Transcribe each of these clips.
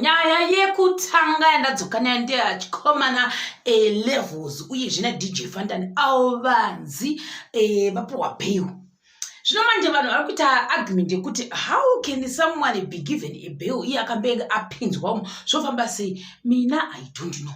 nyaya yekutanga yandadzoka nayo ndeyachikomana e, levels uye zvina dj fandani avo vanzi e, vapiwa bail zvino manje vanhu vari kuita argument yekuti how can someone be given a bail iye akambenge apinzwamo zvofamba sei mina i don't know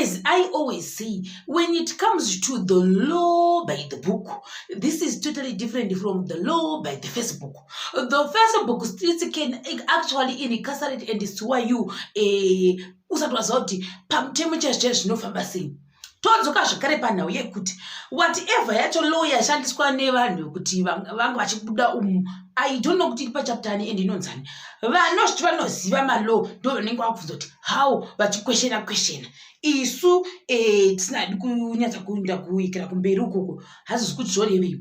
as i always say when it comes to the law by the book this is totally different from the law by the facebook the facebook streets can actually incarcerate and sua you eh, usati waziva kuti pamutemo chaizvo chaizvo zvinofamba sei todzoka zvekare panhau yekuti whatever yacho law yashandiswa nevanhu vekuti vanga vachibuda umu i don't know kuti iri pachaputani and inonzani vanozviti vanoziva malaw ndo vanenge vakubvunza kuti how vachikweshena kweshena isu eh, tisinadi kunyatsa kuenda kuikira kumberi ukoko hazizi kuti zvorevei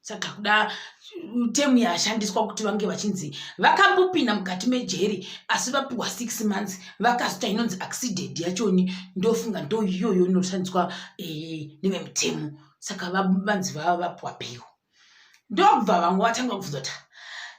saka kuda temu yashandiswa kuti vange vachinzi vakambopinda mukati mejeri asi vapiwa six months vakazoita inonzi accident yachoni ndofunga ndo iyoyo inoshandiswa eh, nevemutemo saka vanzi vava vapiwa piwo ndobva vamwe vatanga kubvunza kuti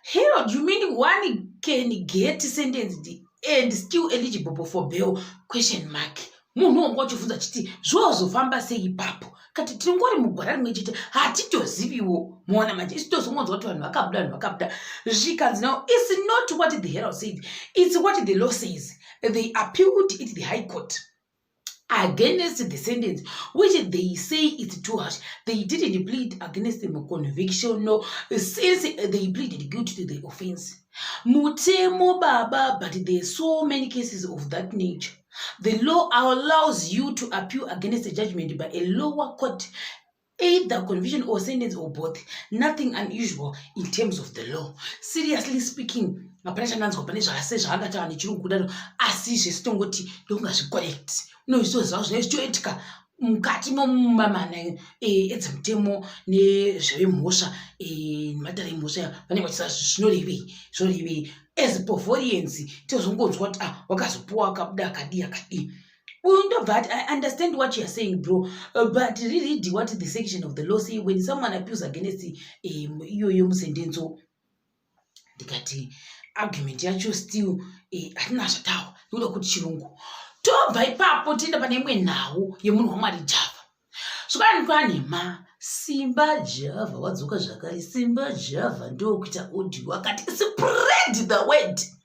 hero you mean one can get sentenced and still eligible for bail question mark munhu wanga uchivhunza achiti zvoozofamba sei ipapo kati tingori mugwara rimwe chete hatitoziviwo moona manje isi tozongonzwa kuti vanhu vakabuda vanhu vakabuda zvikanzi now its not what the herald said its what the law says they appealed it the high court against the sentence which they say is too harsh they didn't plead against them conviction no since they pleaded guilty to the offense mutemo baba but there are so many cases of that nature The law allows you to appeal against a judgment by a lower court, either conviction or sentence or both. Nothing unusual in terms of the law. Seriously speaking, hapana chandanzwa pane zvase zvaanga tawa nechirungu kudaro asi zvese tongoti ndongazvicorrect unozvizoziva zvinenge zvichoitika mukati momumamana eh, edzemutemo nezvevemhosva eh, nematare emhosva vanenge vachisa zvinorevei zvinorevei as povorians tozongonzwa kuti ah wakazopuwa wakabuda akadii akadii uyu ndobva ati i understand what youare saying bro uh, but reread what the section of the law say when someone apuse against eh, iyoyo musendenzo ndikati argument yacho still eh, hatina zvatawa ndoda kuti chirungu tobva ipapo tienda pane imwe nhau yemunhu wamwari java zvokwadi ndikwanhema simba java wadzoka zvakare simba java ndokuita audio akati spread the word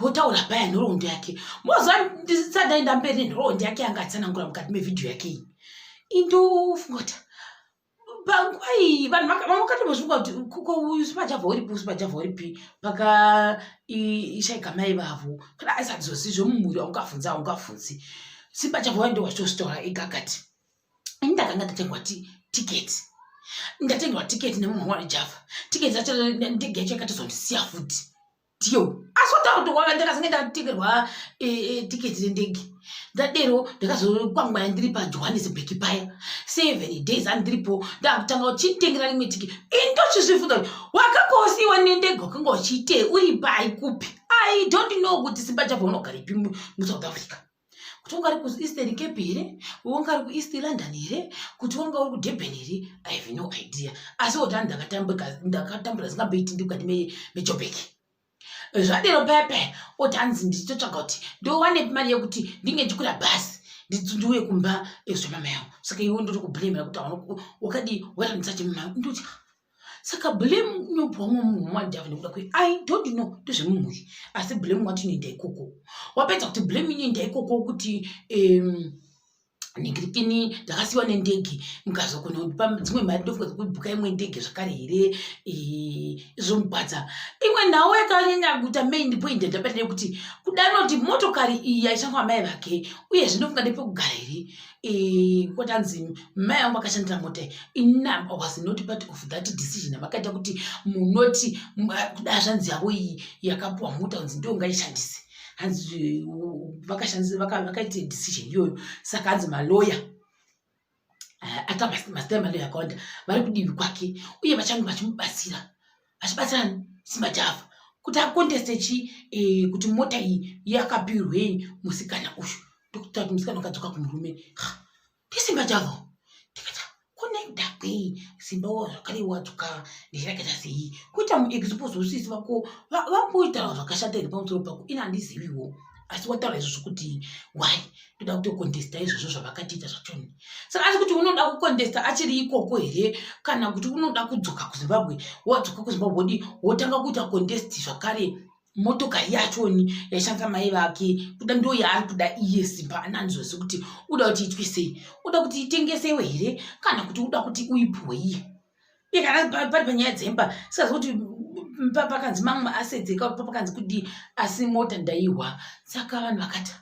wotaura paya nhoroondo yake moziva ndisadaenda mberi nenhoroondo yake yanga atsanangura mukati mevhidhiyo yake iyi indofunga kuti panguva iyi vanhu vamwe vakatombozvifunga kuti kuko usipajavha uripi usipajavha uripi paka ishaika mai vavo kana aisazozi zvemumhuri aungavhunzi aungavhunzi sipajavha waende wachitositaura igakati ini ndakanga ndatengwa ti tiketi ndatengerwa tiketi nemunhu wamwana java tiketi racho ndege yacho yakatozondisiya futi tiyo asi wataura kuti wava ndakazenge ndatengerwa e, e, tiketi rendege ndadero ndakazokwangwaya ndiri pajohannesburg paya seven days ani ndiripo ndakutanga uchitengera rimwe tiki ini tochizvifunza kuti wakakosiwa nendege wakanga uchiite uri pai kupi i don't know kuti simba chavo unogaripi musouth africa kuti wanga ari kueastern cape here wanga ari kueast london here kuti wanga uri kudurban here i have no idea asi otani ndakatambura zingamboiti ndikati mejobek zvadero pepe otanzi ndichitotsvaga kuti ndowane mari yekuti ndinge ndichikura bhasi ndiuye kumba ezvemamai angu saka iwe ndiri kublamera kuti wakadii watandisache mama ndoti saka blame inobva umwe munhu wamandava nekuda kwei i don't know ndezvemunhu uyu asi blame wati inoenda ikoko wapedza kuti blame inoenda ikoko kuti um, ndikini ndakasiwa nendege mukazogona kundipa dzimwe mari ndofuka kubuka imwe ndege zvakare here zvomubhadza imwe nhau yakanyanya kuita main point ndapatire kuti kudanoti motokari iyi yaishandwa mai vake uye zvinofunga ndepekugara here kotanzi mai vangu vakashandira mota inam was not part of that decision yavakaita kuti munoti kuda zvanzi yavo iyi yakapuwa mota kunzi ndiyo ngaishandise hanzi vakashandisa vakaita decision iyoyo saka hanzi maloya eh, ata masita maloya akawanda vari kudivi kwake uye vachange vachimubatsira achibatsirani simba chafa kuti akonteste chi eh, kuti mota iyi yakapirwei musikana uyu ndokutaura kuti musikana wakadzoka kumurume ndisimba chavo ndikata konekta kwei simba wo zvakare wadzoka ndichiraketa sei kuita muexpose usisi vako vamboitawo zvakashata here pamusoro pako ini handiziviwo asi wataura izvo zvekuti why toda kutokontesta izvozvo zvavakatiita zvachoni saka asi kuti unoda kukontesta achiri ikoko here kana kuti unoda kudzoka kuzimbabwe wadzoka kuzimbabwe wodi wotanga kuita kontesti zvakare motokari yachoni yaishandisa mai vake kuda ndo yaari kuda iye simba ananzwese kuti uda kuti itwe sei uda kuti itengesewe here kana kuti uda kuti uipuwe iye iye kana pari panyaya dzemba sikazi kuti pakanzi mamwe asedzeka kuti pakanzi kudi asi mota ndaihwa saka vanhu vakati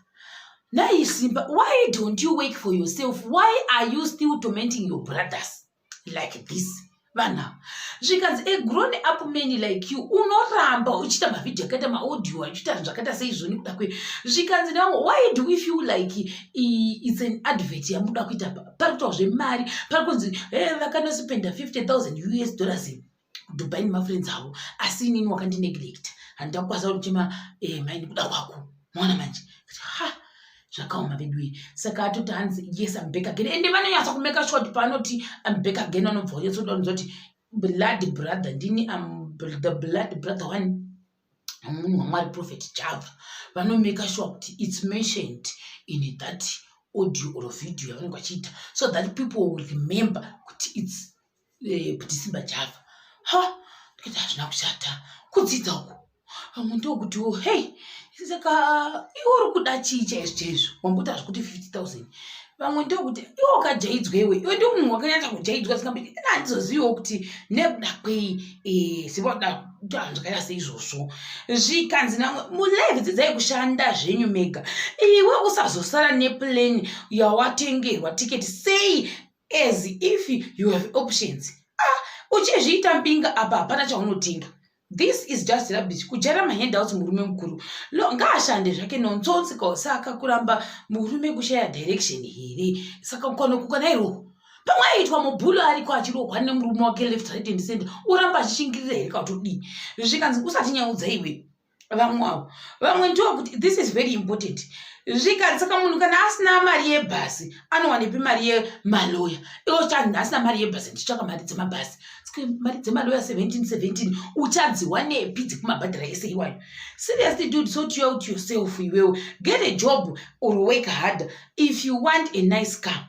nhai simba why don't you wake for yourself why are you still tormenting your brothers like this vanhu ava zvikanzi a grown up many like you unoramba uchiita mavhidhiyo akaita maaudio achiita zvinhu zvakaita seizvo nekuda kwe zvikanzi nevamwe why do we feel like it's an advert yamuda kuita pari kutaura zvemari pari kunzi eh, vakanasipenda 50 000 us dollars dubai nemafriends avo asi inini wakandineglect handida kukwanisa kuchema eh, maini kuda kwako maona manje ha zvakaoma veduwe saka atoti hanzi yes am back again ende vanonyatsa kumeka short paanoti am back again anobva onyatsoda unzoti blood brother ndini am the blood brother one munhu wamwari prophet java vanomeka sure kuti its mentioned in that audio or video yavanenge vachiita so that people will remember kuti its eh, kuti simba java ha ndikati hazvina kushata kudzidza uku vamwe ndokutiwo hei saka iwe uri kuda chii chaizvo chaizvo wambuti hazvi kuti fifty thousand vamwe ndokuti iwe ukajaidzwa iwe iwe ndomunhu wakanyatsa kujaidzwa singambiti ina handizoziviwo kuti nekuda kwei eh, sekuda zvakaita seizvozvo zvikanzi namwe mulife dzidzai kushanda zvenyu mega iwe usazosara neplan yawatengerwa tiketi sei as if you have options ah uchizviita mbinga apa hapana chaunotenga this is just rubbish kujaira mahandouts murume mukuru lo ngaashande zvake nontsonsi ko saka kuramba murume kushaya direction here saka kukwana kukwana iroko pamwe aiitwa mubhulu ariko achirohwa nemurume wake left right and center oramba achishingirira here kautodii zvikanzi usatinyaudza iwe vamwe avo vamwe ndiwo kuti this is very important zvikanzi saka munhu kana asina mari yebhasi anowanepi mari yemaloya iwo chanzi asina mari yebhasi ndichitsvaka mari dzemabhasi mari dzemaloya 1717 uchadziwanepi dzekumabhadhara ese iwayo seriously dud so to yout yourself iwewo get a job or work harder if you want a nice car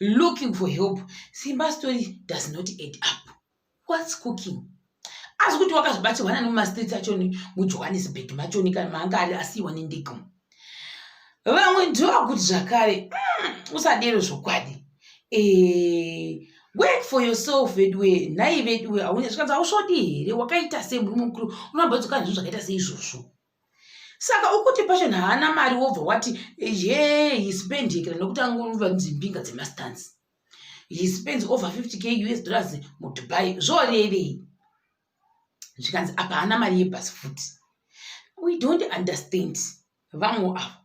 looking for help simba story does not add up whats cooking asi kuti wakazvibatsirwana nemumastreets achoni mujohannesburg machoni kana maanga ari asiyiwa nendiko vamwe ndova kuti zvakare mm, usadero zvokwadi eh, work for yourself veduwe nhai veduwe haune zvikanzi hausvodi here wakaita sei muri mukuru unoamba dzoka nezvinhu zvakaita seizvozvo saka ukuti passion haana mari wobva wati ye he spend yekera nekuti angova nzimbinga dzemastansi he spends over 50 k us dollars mudubai zvorevei zvikanzi apa haana mari yebhasi futi we don't understand vamwe avo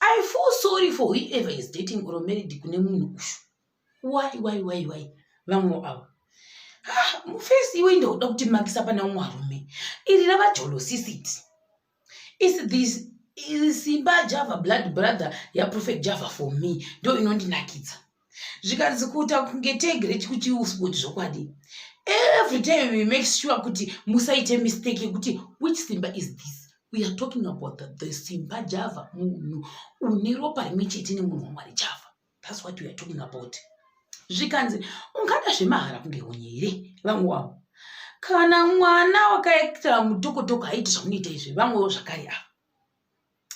i feel sorry for whoever is dating or married kune munhu ushu why why why why vamwe avo ah, mufesi iwe ndokuda kuti makisa pana umwe arume iri ravajolosisiti is this simba java blood brother yaprophet java for me ndo inondinakidza zvikanzi kuita kunge tegret kuti uspod zvokwadi every time we make sure kuti musaite mistake yekuti which simba is this we are talking about the, the simba java munhu une ropa rimwe chete nemunhu wamwari java thats what we are talking about zvikanzi ungada zvemahara kunge honye here vamwe wavo kana mwana wakaita mutokotoko haiti zvamunoita izvi vamwewo zvakare ava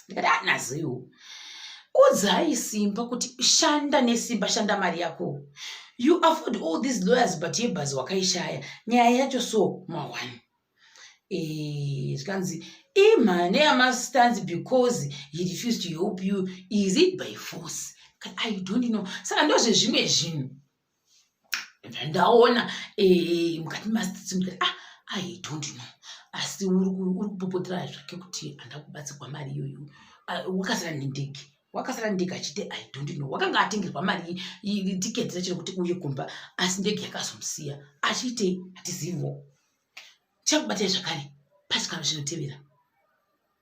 ndikati anaziwo udzai simba kuti shanda nesimba shanda mari yako you afford all these lawyers but yebhazi wakaishaya nyaya yacho so mawani eh, zvikanzi imhane yamastanzi because he refused to help you is it by force i don't know saka ndozvezvimwe zvinhu ndaona eh, mukati masitsimda ah, i don't know asi uri kupopotera zvake kuti handa kubatsirwa mari iyoyo ah, wakasara nendege wakasara ndege achiti i don't know wakanga atengerwa mari tiketi rachiro kuti uye kumba asi ndege yakazomusiya achiite hatizivo tichakubatai zvakare pachikaro chinotevera